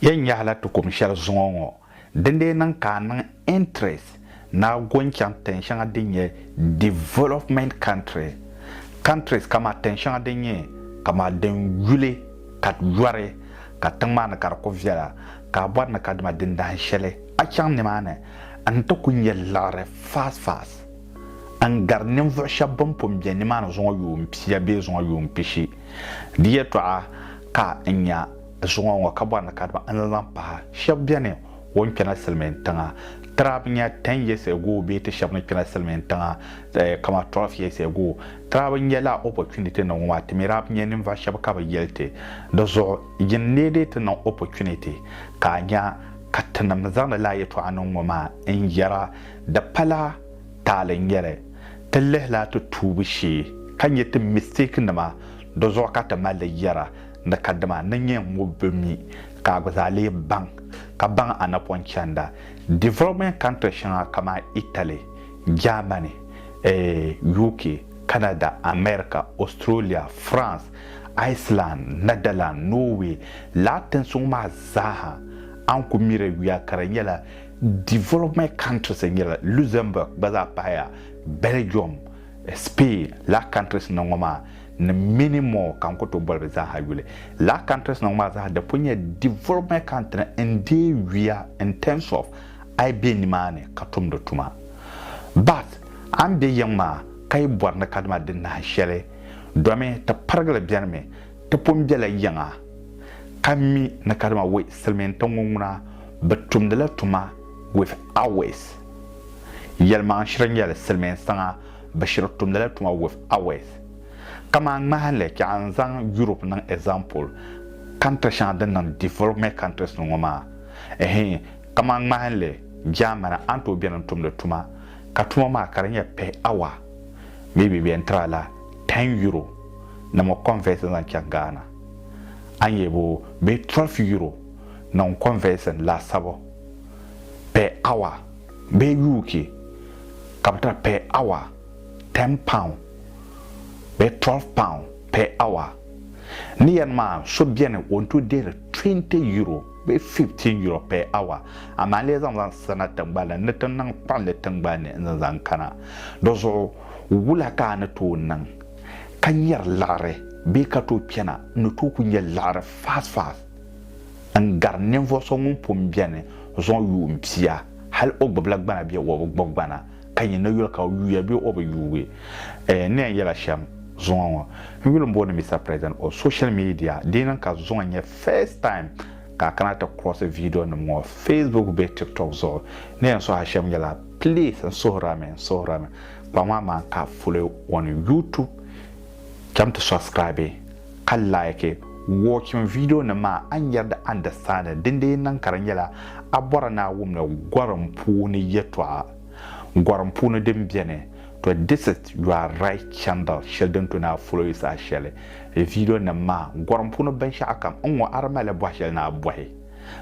Yɛn nyɛhila ti kum shɛli zuŋɔ ŋɔ, dindee niŋ ka a niŋ interest ni a go n-chaŋ tin shɛŋa din nyɛ development country, countries kamaa tin shɛŋa din nyɛ kamaa din yuli ka yɔri ka tiŋ maa ni ka di ku viɛla, ka a bɔri ni ka dima dindahin shɛli a chaŋ nimaani n-ti ku nyɛ liɣiri fast fast n-gari ninvuɣ shɛb bɛn pun be nimaani zuŋɔ yuun pia bee zuŋɔ yuun pishi. Di yɛtɔɣa ka n nya. Zuŋɔ ŋɔ ka bɔri ni kadama n laŋ pahi shɛb bɛni o ni kpɛna silimiin tiŋa trab nya 10 years ago bee ti shɛb ni kpɛna silimiin tiŋa kama 12 years ago trab n nyɛla opportunity nim ŋɔ maa ti mi daa bi nya ninvuɣ shɛb ka bi yɛli ti di zuɣu yin lee dii ti niŋ opportunity ka a nya ka tinim ni zaŋdi lala yɛtɔɣa niŋ ŋɔ maa n yɛra di pala taali n nyɛli ti lihila ti tuubu shee ka nya ti mistake nima di zuɣu ka ti mali li yɛra Ni kadima ni nyɛ ŋub bi mi ka a gba zaa lee baŋ, ka baŋ a napɔŋ chanda development country shɛŋa kamani Italy, Germany, eh, UK, Canada, America, Australia, France, Iceland, Netherlands, Norway lahi tinsuŋ maa zaa ha. A ni ku miri yuya ka di nyɛla development countries n-nyɛba, Luxembourg gba zaa pahaya, Belgium, Spain lahi countries ni ŋɔ maa. ni many more ka n ku tooi boli bɛ zaaha yuli. Lala countries nim maa zaaha di pun nyɛla development country n deei yuya in terms of a yi be nimaani ka tumdi tuma. But a ni be yiŋ maa ka yi bɔri ni kadama di nahi shɛli domi ti pirigili beni mi ti pun bela yiŋa ka mi ni kadama wei silimiin tiŋ ŋɔ ŋuna bɛ tumdila tuma with hours. Yɛlimaŋshiri n-nyɛli silimiin tiŋa. Bashir tumdi la tuma with Awes. Kaman ŋmahinli ka a ni zaŋ Europe niŋ example, country shɛŋa din niŋ development countries ni ŋɔ maa. Ɛhii, kaman ŋmahinli Germany a ni tooi beni n-tumdi tuma, ka tuma maa ka di nyɛ pay hour, maybe bɛ yɛn tiri a la ten euro ni mi convert n-zaŋ chaŋ Ghana. A ni yɛli bo bee twelve euro ni n-convert n laasabu pay hour. Bɛ yuuki ka bɛ tiri per hour ten pound bee twelve pound per hour. Ni yɛn maa so beni o ni tooi dihiri twenty euro bee fifteen euro per hour amaa n lee zaŋ zaŋ sirina tiŋgbani la ni ti niŋ kpuɣinli tiŋgbani ni n-zaŋ zaŋ kana. Di zuɣu wula ka a ni tooi niŋ ka nyari liɣiri bee ka tooi kpɛna n ni tooi ku nya liɣiri fast fast? n gari ninvuɣ so ŋun pun beni zuɣu yuun pia, hal o gbibila gbana bee o bi gbibi gbana, ka nyin ni yuli ka o yuuya bee o bi yuui. N ni yɛn yɛla shɛm zuŋɔ ŋɔ, n yuli m-booni Mister President o social media, di niŋ ka zuŋɔ nyɛ first time ka a kana ti kurɔsi viidionima ŋɔ Facebook bee TikTok zuɣu. N ni yɛn suhi a shɛm nyɛla, please n suhirami, n suhirami, kpaŋ ma maan ka a foli on YouTube. Cham ti subscribe ka like watching video nim maa a ni yɛri di understanding din dee niŋ ka di nyɛla a bɔra ni a wumdi gorim puuni yɛtɔɣa gorim puuni din beni to this is your right channel shɛli din to ni a follow yi saha shɛli video nim maa gorim puuni binshɛɣu kam n ŋɔ a di mali bɔhi shɛli ni a bɔhi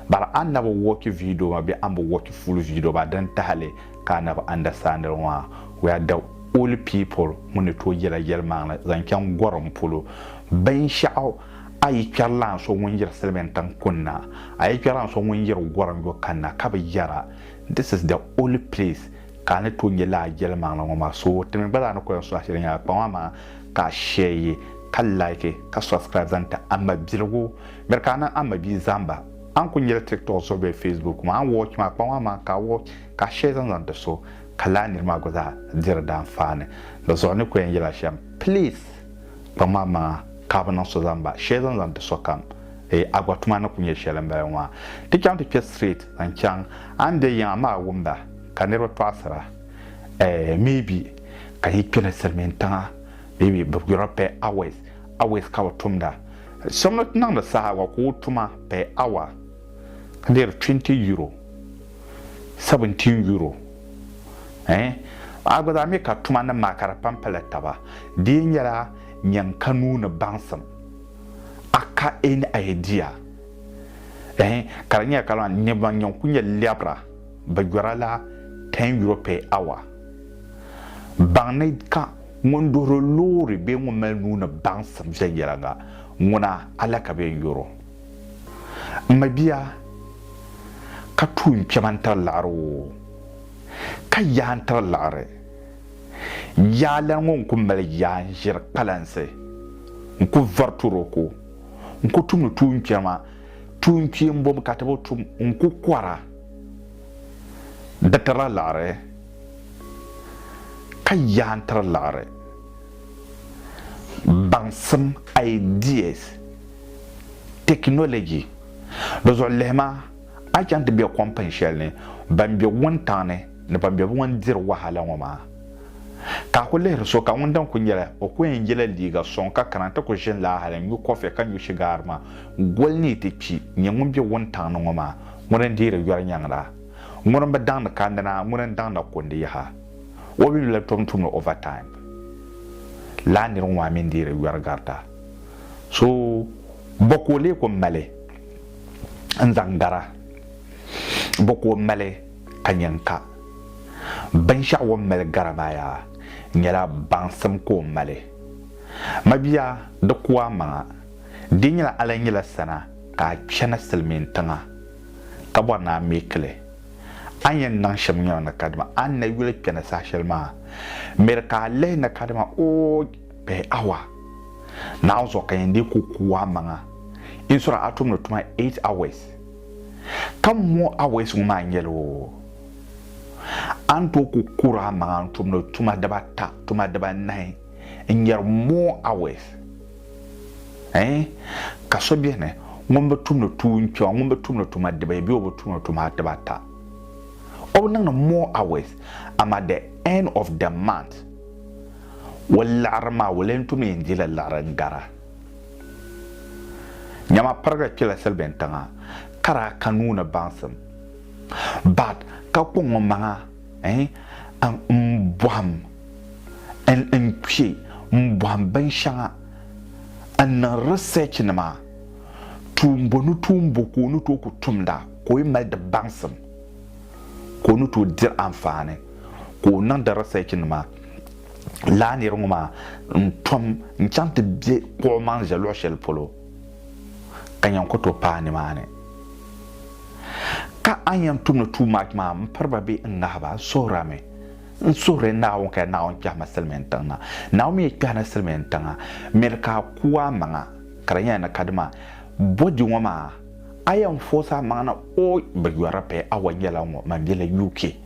Bara a na bi wɔchi viido maa bee a ni bi wɔchi full viido maa din tahili ka a na bi understand li maa, we are the only people ŋun ni tooi yela yelimaŋli zaŋ chaŋ gorim polo. Binshɛɣu a yi kpɛri lan so ŋun yiri silimiin tiŋ kunna, a yi kpɛri lan so ŋun yiri gorim yo kanna ka bi yera, this is the only place ka a ni tooi nye lala yelimaŋli ŋɔ maa. So ti mi gba zaa ni ko yan sɔŋ a sheli nyɛla kpaŋa maa ka a share yi ka like ka subscribe zaŋ ti a mabiligu Miri ka a niŋ a ma bia zaŋ ba. A ni kul nyɛla tiktok zuɣu bee facebook maa a ni watch maa kpaŋ maa maa ka a watch ka a share zaŋ zaŋ ti so ka lala nir maa gba zaa diri di anfaani. Di zuɣu n ni ku yɛn yɛl a shɛm please kpaŋ maa maa ka a bi niŋ so zaŋ ba share zaŋ zaŋ ti sokam. Eei a gba tuma ni ku nyɛ shɛli m-bala ŋɔ a ti chaŋ ti kpe straight zaŋ chaŋ a ni be yiŋa amaa a wum ba ka niriba tɔɣisira eei maybe ka yi kpe ni silimiintiŋa maybe bɛ yurɔpɛ hours Awɛs ka o tumda. Shɛm ni ti niŋdi saha wa ka o tuma per hour ka deeri twenty euro, seventeen euro eh. A gba zaa mi ka tuma nim maa ka di pam pali taba. Di yi nyɛla nyin ka nuu ni baŋsim a ka any idea eh ka di nyɛla kamani ni ban nyin ku nyɛ lɛbira bi yɔra la ten euro per hour. Baŋ ni ka. Ŋun duhiri loori bee ŋun mali nuu ni baŋsim viɛnyɛliŋga, ŋuna Allah ka bɛ yɛn yɔr o. M mabia! Ka tuui n kpɛma n-tiri liɣiri woo, ka yaai n-tiri liɣiri. Yaa lan ŋɔ n ku mali yaa n-ʒiri kpalansi, n ku vari toroko, n ku tumdi tuun kpɛma, tuun kpeembom ka ti bi tum, n ku kɔra, di tirila liɣiri. Ka yaa n tiri liɣiri baŋsim, ideas, technology di zuɣu lihi ma, a ni chaŋ ti be kom pin shɛli ni ban be wuntaŋ ni ni ban be ŋun diri wahala ŋɔ maa. Ka a ku lihiri so ka ŋun dini ku nyɛla o ku yɛn yela liiga sɔŋ ka kana nti ku ʒini laa hali n-nyu kɔfi ka nyu shigaar maa goli ni yi ti kpi nyɛ ŋun be wuntaŋ ni ŋɔ maa ŋuni n-deeri yɔri nyaŋ la? Ŋuni n bi daŋdi kandina ŋuni n daŋda kundi yaha o bi yula tom tumdi over time laa nirigu maa mi n deeri yɔri garita so bɔ ka o lee ku mali n zaŋ gara bɔ ka o mali ka nyɛ n ka binshɛɣu o ni mali gara maa yaa nyɛla baŋsim ka o mali mabia di ku a maŋa di nyɛla a lan nyɛla sana ka a chana silimiin tiŋa ka bɔri ni a meeki li. A ni yɛn niŋ shɛm nyɔri ni kadama a ni na yuli kpɛna saha shɛli maa, miri ka a lihi ni kadama o pahi awa nahi zuɣu ka yɛn dii ku kuui a maŋa in so daa a tumdi tuma eight hours. Ka more hours ŋɔ maa nyɛla o a ni tooi ku kuuri a maŋa n-tumdi tuma dibata, tuma dibanahi. n nyari more hours eh ka so bɛni ŋun bi tumdi tuun kpɛma ŋun bi tumdi tuma dibayi bee o bi tumdi tuma dibata o bi niŋdi more hours amaa the end of the month o liɣiri maa o leen tum yɛn dila liɣiri n gara nyama pirigiri kpila silibin tiŋa ka daa ka nuu ni baŋsim but ka kɔŋ o maŋa N bɔhim n n kpe m bɔhim binshɛŋa n niŋ research nima tuumbo ni tuumbo ka o ni tooi ku tumda ka o yi mali di baŋsim ka o ni tooi diri anfaani ka o niŋdi research nima lala nira ŋɔ maa n tom n chaŋ ti be kpuɣi maŋ ʒe luɣi shɛli polo. ka nyaŋ ku tooi paai nimaani. Ka a ni yɛn tumdi tuum maa tuma maa, m-piri ba bee n-ŋahi ba? N suhirimi. N suhiri Naawuni ka Naawuni kpɛhi ma silimiintiŋ na. Naawuni mi yi kpɛhi na silimiintiŋa, miri ka a ku amaŋa, ka di nyɛla ni kadama bɔdi ŋɔ maa, a yɛn foosi amaŋa na. O! Bɛ yɔri pay! Awa nyɛla ŋɔ, mambila UK.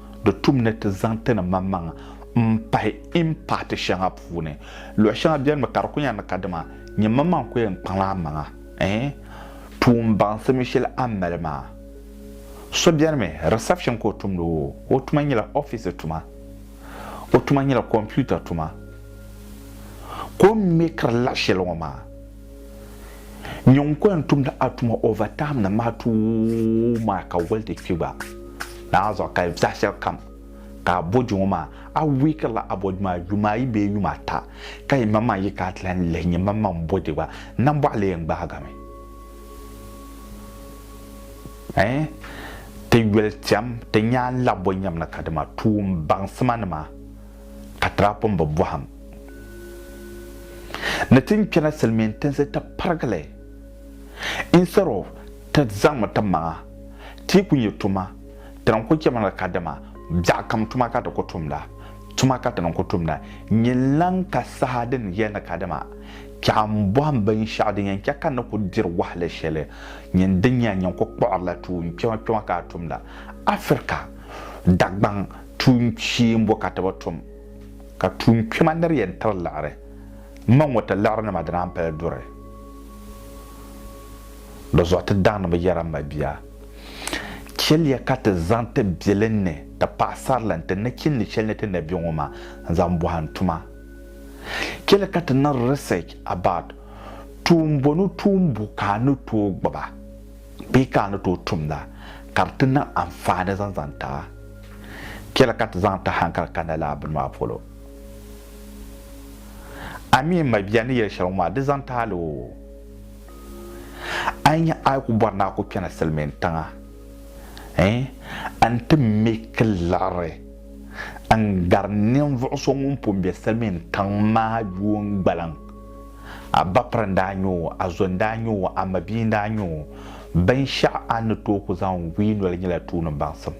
Di tum ni ti zaŋ ti ni maŋmaŋ m-pahi impaati shɛŋa puuni. Luɣ shɛŋa benimi ka di kul nya ni kadama nyini maŋmaŋ ku yɛn kpaŋla amaŋa. Ɛɛn! Tuun baŋsimi shɛli a ni mali maa. So benimi, reception ka o tumdi o o tuma nyɛla ofiisi tuma. O tuma nyɛla kompiuta tuma. Ka o mi kiri laɣ shɛli ŋɔ maa. Nyɔŋ ko yɛn tumdi a tuma over time ni maa tuui maa ka woli ti kpi gba naai zuɣu ka zaɣi shɛli kam ka a bɔji ŋɔ maa a weaker la a bɔji maa yuma ayi bee yuma ata ka yi maŋmaŋ yi ka a ti lan lihi nyɛ maŋmaŋ bɔji gba nambɔɣu lee yɛn gbaagimi ɛɛh ti yoli tɛm ti nyaa labɔ nyɛm ni ka dima tuun baŋsima nima ka Tiraapum bi bɔhim ni ti ni kpɛna Silimiin tinsi ti pirigi li. Instead of ti zaŋmi ti maŋa ti yi ku nya tuma, ti ni ku chɛmi ni kadama biɛɣukam tuma ka ti ku tumda. Tuma ka ti ni ku tumda nyɛnlaŋ ka saha din yɛli ni kadama kpɛɣu m-bɔhim binshɛɣu din yɛn chɛ ka n ni ku diri wahala shɛli nyini din nya n-yɛn ku kpuɣirila tuun kpɛma kpɛma ka a tumda Afirika Dagbaŋ Tuun kpee m-bo ka ti bi tum, ka tuun kpɛma ni di yɛn tiri liɣiri. M ma ŋɔ ti liɣiri ni ma di naan pali duri. Di zuɣu ti daŋ ni bɛ yɛra m ma bia, chɛliya ka ti zaŋ ti biɛlinni, ti paɣisarili n ti nachinli shɛli ni ti na be ŋɔ maa n-zaŋ bɔhi n tuma. Chɛliya ka ti niŋ research about tuun bɔnu tuun bo ka a ni tooi gbuba. Bee ka a ni tooi tumda ka di ti niŋ anfaani zaŋ zaŋ ti a? Chɛli ka ti zaŋ ti hankali kani lala bini maa polo. A mi n mabia ni yɛli shɛli ŋɔ maa, di zaŋ ti a la oo, a yi nya a yi ku bɔri ni a ku kpɛna silimiin tiŋa, n ti me ki liɣiri n gari ninvuɣ so ŋun pun be silimiin tiŋ maa yuun gbaliŋ A bapiri n-daa nyɛ o, a zo n-daa nyɛ o, a mabia n-daa nyɛ o. Binshɛɣu a ni tooi ku zaŋ gu yi noli nyɛla tuuni baŋsim.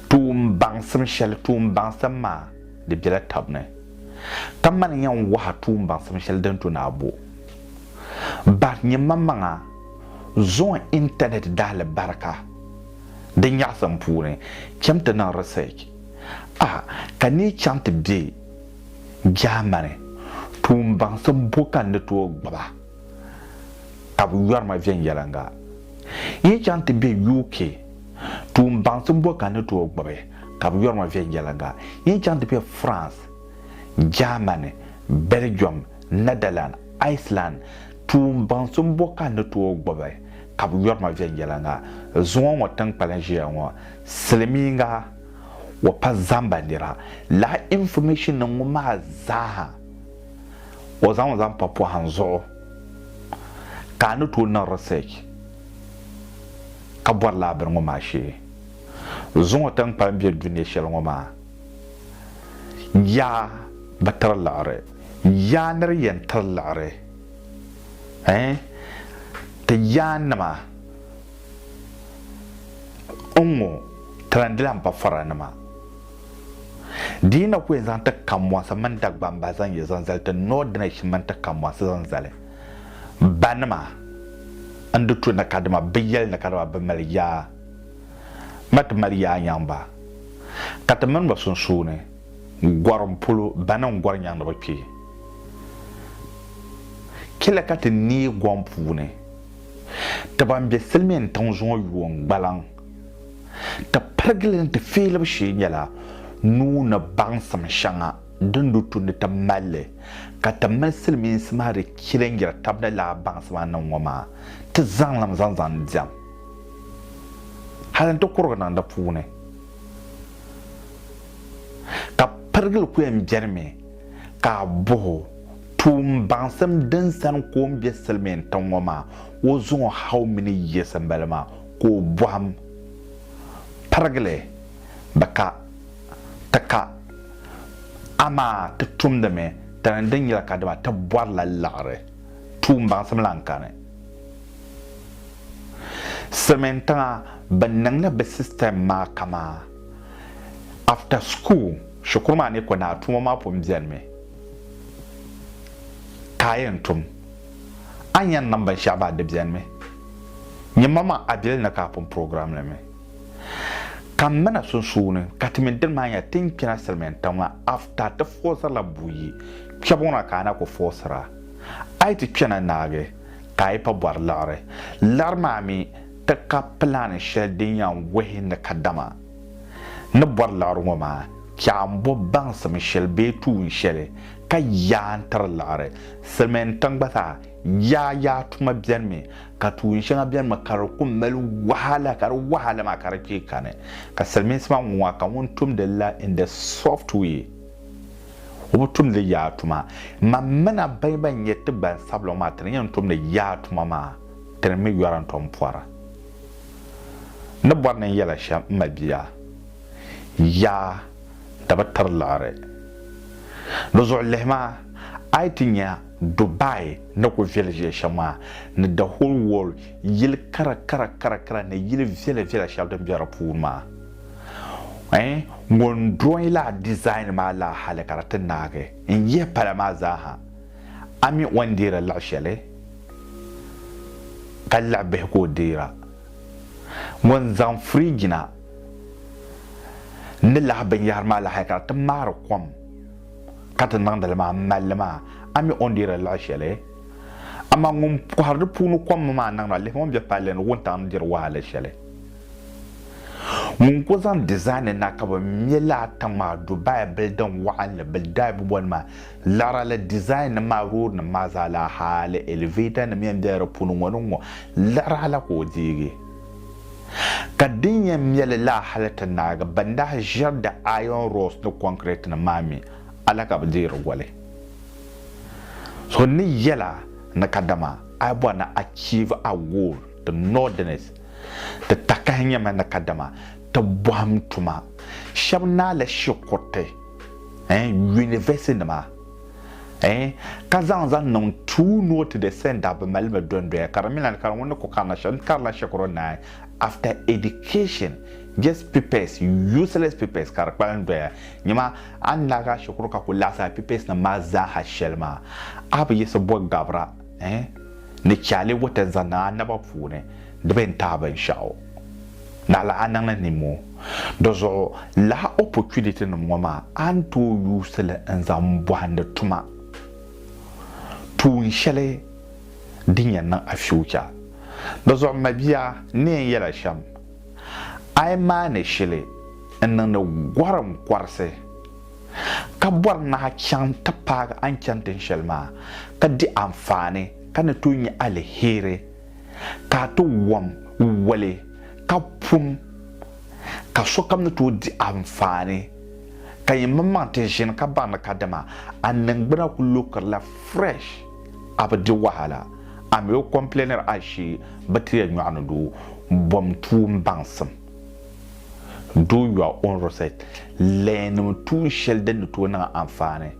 Tuun baŋsim shɛli, tuun baŋsim maa, di bela tab ni. Kamani yɛn waha tuun baŋsim shɛli din to ni a bo. Bahi nyɛmmaŋmaŋa zɔn intanɛt daalibarika di nyaɣisim puuni cham ti niŋ research. A ka ni chaŋ ti be. Jaamani, tuumbaŋsim bo ka n ni tooi gbiba ka bɛ yɔri ma viɛnyɛliŋga? Yi chaŋ ti be UK, tuumbaŋsim bo ka n ni tooi gbibi ka bɛ yɔri ma viɛnyɛliŋga? Yi chaŋ ti be France, Jaamani, Bɛlijɔm, Nɛdaland, Iceland, tuumbaŋsim bo ka n ni tooi gbibi ka bɛ yɔri ma viɛnyɛliŋga? Zuŋɔ ŋɔ tiŋkpaliŋ ʒiya ŋɔ, silimiiŋga wa pa zamba nira la information nim ŋɔ maa zaaha o zaŋ zaŋ pa pɔhim zuɣu ka a ni tooi niŋ research ka bɔri lala bini ŋɔ maa shee zuŋɔ tinkpani bɛ dunia shɛli ŋɔ maa yaa bi tiri liɣiri yaa ni di yɛn tiri liɣiri eh ti yaa nima N ŋɔ talindila m pafaranima. Di yi na ku yɛn zaŋ ti kambɔnsi mini Dagbamba zaŋ yi zaŋ zali ti Northerners mini ti kambɔnsi zaŋ zali banima n di tu ni kadama bɛ yɛli ni kadama bɛ mali yaa ma ti mali yaa nyaŋ ba ka ti mini ba sunsuuni gɔri m polo bani n gɔri nyaŋ ni bɛ kpe kpila ka ti neei gɔŋ puuni. Ti ban be silimiin tiŋ zuŋɔ yuun gbalaŋ ti pirigili ni ti feelibu shee nyɛla nuu ni baŋsim shɛŋa din du tundi ti mali li ka ti mini silimiinsi maa di chilingiri tab ni laa baŋsim a niŋ ŋɔ maa ti zaŋlim zaŋ zaŋ diɛm hali nti kurigi niŋ di puuni ka pirigili ku yɛn benimi Ka a bɔh o, Tuun baŋsim din sani ka o ni be silimiin tiŋ ŋɔ maa, o zaŋ o hau mini yiɣisi m-bali maa ka o bɔhim pirigi li? Bɛ ka, ti ka, amaa ti tumdi mi di ni din yɛli ka dama ti bɔrila liɣiri. Tuun baŋsim lan kani silimiin tiŋa bɛ niŋla bɛ sistɛm maa kamaa after school. Shikuru maa ni kɔnaai tuma maa pun benimi ka a yɛn tum. A ni yɛn niŋ binshɛɣu baa di benimi. Nyɛmmaŋmaŋ a bili ni ka a pun program li mi. Ka m mina sunsuuni ka ti mini dini maa nya ti ni kpina Silimiin tiŋ maa after ti fɔɔsirila buyi kpɛbu ŋɔ na ka a na ku fɔɔsira. A yi ti kpɛna naagi ka a yi pa bɔri liɣiri. Liɣiri maa mi ti ka plan shɛli din yɛn wuhi ni kadama. ni bɔri liɣiri ŋɔ maa chɛɣu m-bo baŋsim shɛli bee tuun shɛli ka yaa n-tiri liɣiri. Silimiin tiŋ gba zaa yaa yaa tuma beni mi ka tuun shɛŋa beni mi ka di ku mali wahala ka di wahala maa ka di kpee kani ka silimiinsi maa ŋun a ka ŋun tumdi la in the soft way o bi tumdi yaa tuma. Mam mina bɛn bɛn nyɛ ti gbansabila ŋɔ maa ti ni yɛn tumdi yaa tuma maa ti ni mi yɔra n-tom pɔra. N ni bɔri ni n yɛla shɛm m mabia, yaa di bi tiri liɣiri. Di zuɣu lihi ma, a yi ti nya Dubai ni ku viɛli viɛli shɛm maa, ni the whole world yili kara kara kara kara ni yili viɛla viɛla shɛli din be di puuni maa, eh, ŋun drawing la design maa la hali ka di ti naagi n yihi pala maa zaa ha. A mi o ni deeri liɣi shɛli, ka liɣi bihi ka o deera. Ŋun zaŋ firiijina ni lahi binyɛhiri maa lahi ka di ti maari kom ka ti niŋdi li maa m-mali li maa, a mi o ni deeri liɣi shɛli. Amaa ŋun kɔhiri di puuni kom maa niŋdi ma, lihimi o ni be palli ni wuntaŋ ni diri wahala shɛli. Ŋun ku zaŋ dizaani na ka bɛ me laa tiŋ maa Dubai bilidin wɔɣinli, Bildaib boli maa, Lari li design nim maa road nim maa zaa laa hali elevator nim yɛn bela di puuni ŋɔ ni ŋɔ lari a la ka o deegi ka din yɛn meli laa hali ti naagi ban daa ʒeri di iron rods ni concrete nim maa mi a la ka bi deeri goli so ni yela ni kadama a yi bɔri ni achieve a goal di northerners ti takahi nyɛmi ni kadama ti bɔhim tuma shɛba naali shikuruti eh, yunivɛsinima eh, ka zaŋ zaŋ niŋ tuu ni o ti di sɛnda bi mali mi dondoya ka di mi lan kari ŋun ni ku karina shɛm karila shɛkuru naai after education just pipɛs useless pipɛs ka di kpalim doya nyɛma a ni lahi gaa shɛkuru ka ku laɣisi a pipɛs nim maa zaaha shɛli maa a bi yiɣisi bɔ Gabra eh, ni Charlie Wata zaŋ niŋ a naba puuni di bi yɛn tahi binshɛɣu. Naɣila a niŋla nimmoo. Dizuɣu, lahi opportunity nim ŋɔ maa a ni tooi yuusi li n zaŋ bɔhindi tuma tuun shɛli din yɛn niŋ a future. Dizuɣu mabia, n ni yɛn yɛla shɛm, a yi maani shili n niŋdi gɔrim kɔrisi ka bɔri nahi chaŋ ti paagi a ni chani tin shɛli maa ka di anfaani ka ni tooi nya aliheri ka a ti wɔm wali ka pun ka sokam ni tooi di anfaani, ka yi mini maŋ ti ʒini ka baŋ ni kadama a niŋgbuna ku lukirila fresh, a bi di wahala, a mi o complainiri ashee bɛ ti yɛn nyɔɣi ni doo bom tuun baŋsim. Do your own research, learn tuun shɛli din ni tooi niŋ a anfaani.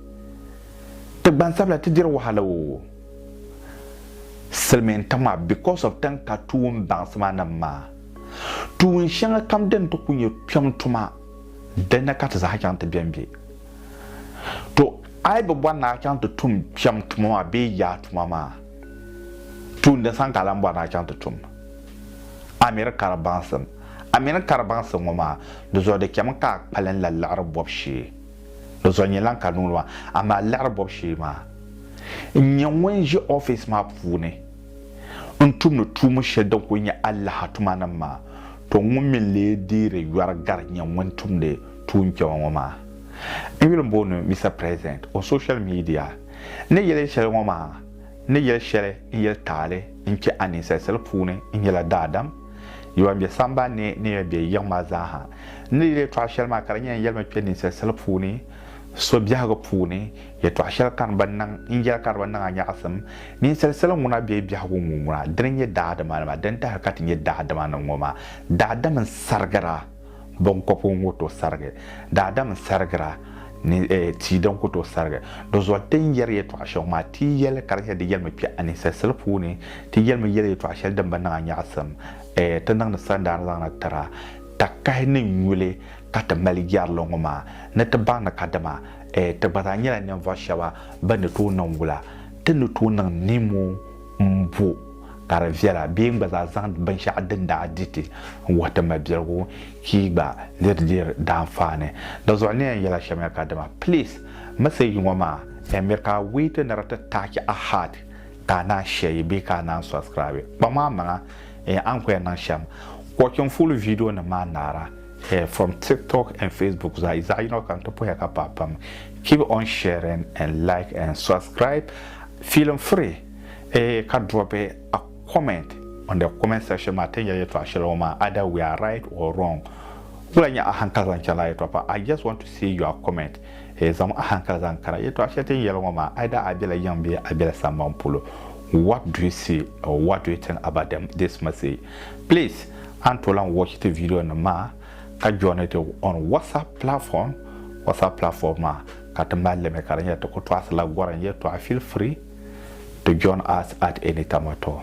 Ti gbansabila ti diri wahala oo. Silimiin tiŋ maa because of tiŋ ka tuun baŋsima nim maa tuun shɛŋa kam din ti ku nyɛ kpɛm tuma din ni ka ti zaa chaŋ ti bɛ n bɛ. To a yi bi bɔri ni a chaŋ ti tum kpɛm tuma maa bee yaa tuma maa tuun din sani ka a lan bɔri ni a chaŋ ti tum a miri kari baŋsim a mini kari baŋsim ŋɔ maa di zuɣu di chɛmi ka a kpalim la liɣiri bɔbu shee. Di zuɣu nyɛ lan ka niŋdi ma, amaa liɣiri bɔbu shee maa, n nyɛ ŋun ʒi ɔfis maa puuni n-tumdi tuumb shɛli din kul nyɛ alaha tumanim maa, to ŋun mi n-lee deeri yɔri gari nyɛ ŋun tumdi tuun kpɛma ŋɔ maa. N yuli m-booni Mister President on social media. N ni yɛli shɛli ŋɔ maa, n ni yɛli shɛli n yɛli taali n-kpe a ninsal sali puuni, n nyɛla daadam. Yi wan be samban ni ni yɛn be yiŋ maa zaa ha. N ni yi yɛtɔɣ shɛli maa ka di nyɛ n yɛlimi kpe ninsal sili puuni so biɛhigu puuni, yɛtɔɣ shɛli ka n bi niŋ, n yɛli ka di bi niŋ a nyaɣisim. Ninsal sili ŋuna bee biɛhigu ŋun ŋuna, dini n-nyɛ daadimanima, din tahiri ka ti nyɛ daadimanim ŋɔ maa, daadam n-sarigira. Biŋkɔbgu n-ku tooi sarigi, daadam n-sarigira ni tia din ku tooi sarigi. Dozoli ti ni yɛri yɛtɔɣ shɛŋa maa, ti yɛli kari shɛli din yɛli mi kpɛha ninsalisiri puuni, ti yɛli mi yɛli yɛtɔɣ shɛli din bi niŋ a nyaɣisim, ti niŋdi sandaani zaŋna tira takahi ni nyuli ka ti mali yɛrili ŋɔ maa ni ti baŋdi ka dama ti gba zaa nyɛla ninvuɣ shɛba bɛn ni tooi niŋ wula, ti ni tooi niŋ nimo. m-bo ka di viɛla bee n-gba zaa zaŋ binshɛɣu din daa di ti n-wuhi ti mabiligu ka yi gba liri di daanfaani. Dinzuɣu niɛya nyɛla shɛmiya kadama please message ŋɔ maa n miri ka a wait ni di ti touch a heart ka a naan share bee ka a naan subscribe. Kpaŋmaŋmaŋa a ni kuli yɛn niŋ shɛm, watching full video nim maa naara. Here from TikTok and Facebook zaa yi zaɣi yino kam ti puhiya ka paai pam keep on sharing and like and subscribe feeling free eeh ka drop a comment on the comment section maa ti nya yɛltɔɣa shɛli ŋɔ maa either we are right or wrong wula nya ahankali zaŋ chana yɛltɔɣa pam I just want to see your comment eeh zaŋm ahankali zaŋ kara yɛltɔɣa shɛli tin yɛli ŋɔ maa either a bela yiŋ bee a bela samban polo what do you see or what do you think about them this message Please a ni tooi lahi watch ti video nim maa ka join ti on WhatsApp platform WhatsApp platform maa ka ti mali limi ka di nyɛla ti ku tɔɣisi la gorim yɛltɔɣa feel free to join us at any time at all.